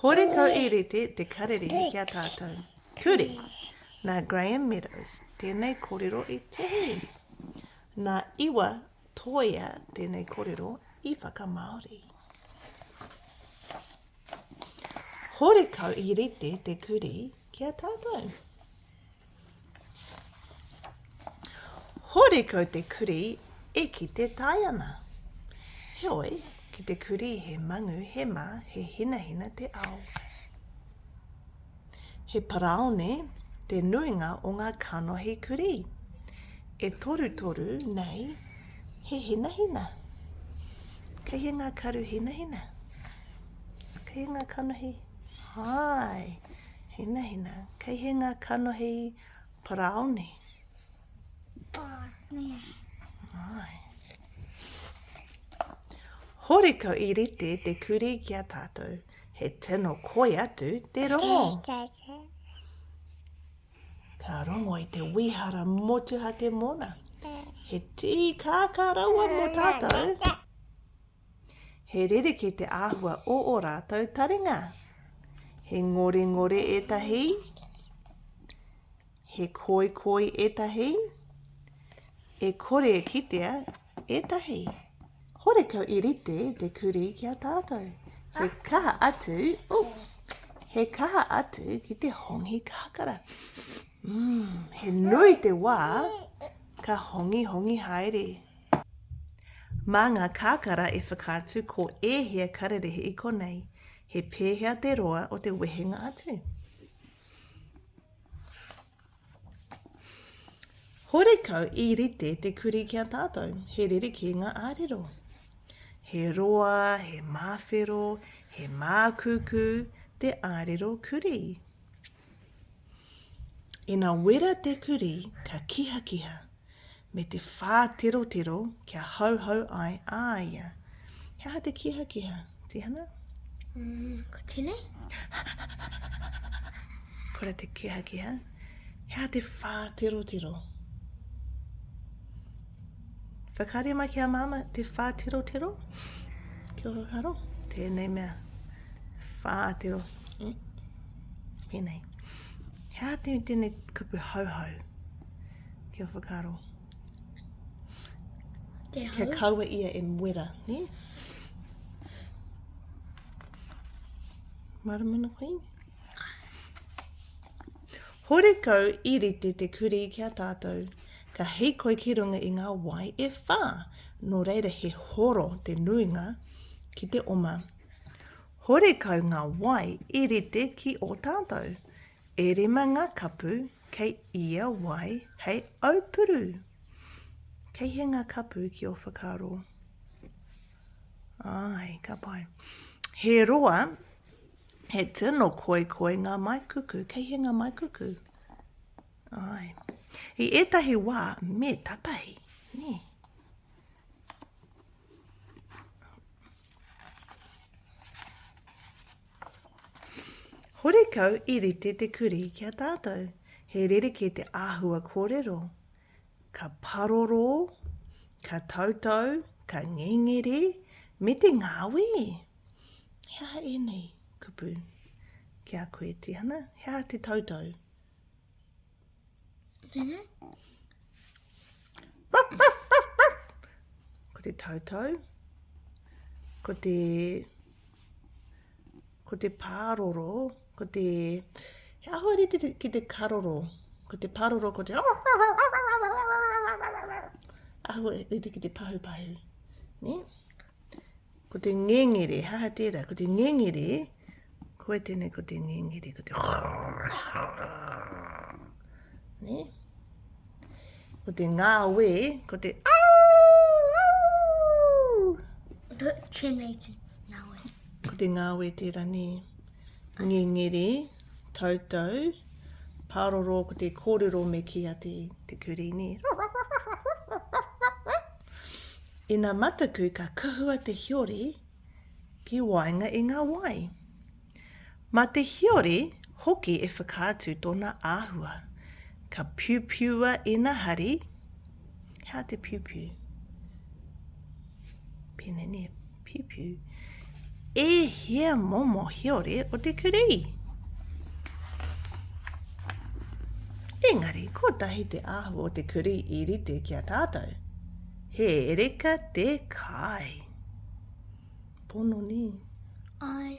Horekau i rite te karere ki a tātou. Kuri! Nā Graham Meadows tēnei korero i tohu. Nā Iwa Toea tēnei korero i whakamāori. Horekau i rite te kuri ki a tātou. Horekau te kurī e kite tae ana. Heoi, ki te kurī he mangu, he mā, he hinahina te ao. He paraone te nuinga o ngā kanohi kurī. E torutoru nei he hinahina. Kei he ngā karu hinahina? Kei he ngā kanohi? Hai, Hinahina, kei he ngā kanohi paraone? Paraone. Ai. Horiko i rite te kuri ki a tātou, he tino koi atu te rongo. Ka rongo i te wihara motuhake mona. He tī kākā rawa mō tātou. He rerekē te āhua o ō rātou taringa. He ngorengore ētahi, he koikoi ētahi, e kore e kitea ētahi. Horekau i rite te kurī ki a tātou. He kaha atu, oh, he kaha atu ki te hongi kakara. Mm, he nui te wā ka hongi hongi haere. Mā ngā kakara e whakaatu ko ēhea kararehe i konei, he pēhea te roa o te wehenga atu. Horekau i rite te kuri ki a tātou, he rerekē ngā ārero. He roa, he māwhero, he mākūkū te ārero kuri. Ina wera te kuri, ka kihakiha, me te whāterotero kia hauhau ai a ia. He aha te kihakiha, Tihana? Mm, ko tēnei. Kora te kihakiha. He aha te whāterotero? Whakaria mai ki a māma te whāterotero? Kia ora karo. Tēnei mea. Whātero. Mm. Pēnei. He aha tēnei kupu hauhau? Kia whakaaro. Kia, Kia kaua ia e muera, ne? Maramana Queen. Horekau i rite te kuri ki a tātou, ka hikoi ki runga i ngā wai e whā, nō reira he horo te nuinga ki te oma. Horekau ngā wai i rite ki o tātou, E rima ngā kapu kei ia wai hei aupuru. Kei hea ngā kapu ki ō whakaaro? Ai, ka pai. He roa, he tino koikoi ngā maikuku. Kei hea ngā maikuku? Ai. I ētahi wā, me tapahi, nē. Horekau i rite te kurī ki a tātou. He rerekē te āhua kōrero. Ka parorō, ka tautau, ka ngengere, me te ngāwē. He aha ēnei, kupu? Ki a koe, Tihana, he aha te tautau? Tēnā. Ko te tautau. Ko te... Ko te pāroro. Ko te... He ahua rite ki te karoro. Ko te pāroro, ko te... Ahua rite ki te pahupahu. Ne? Ko te ngengere, he aha tērā? Ko te ngengere, koe tēnei ko te ngengere, ko te ne? Ko te ngāwe, ko te Tēnei te ngāwe. Ko te ngāwe tērā ne. Ngengere, tautau, pāroro, ko te kōrero me ki a te, te kurī, ne? Ina mataku ka kuhua te hiori ki waenga i nga wai. Ma te hiori hoki e whakaatu tona ahua. Ka piupiua ina hari, he aha te piupiu? Pine, nie. Piupiu. E hea momo hiore o te kurī? Engari, kotahi te ahu o te kurī i rite ki a tātou. He reka te kai. Pono nī? Ai.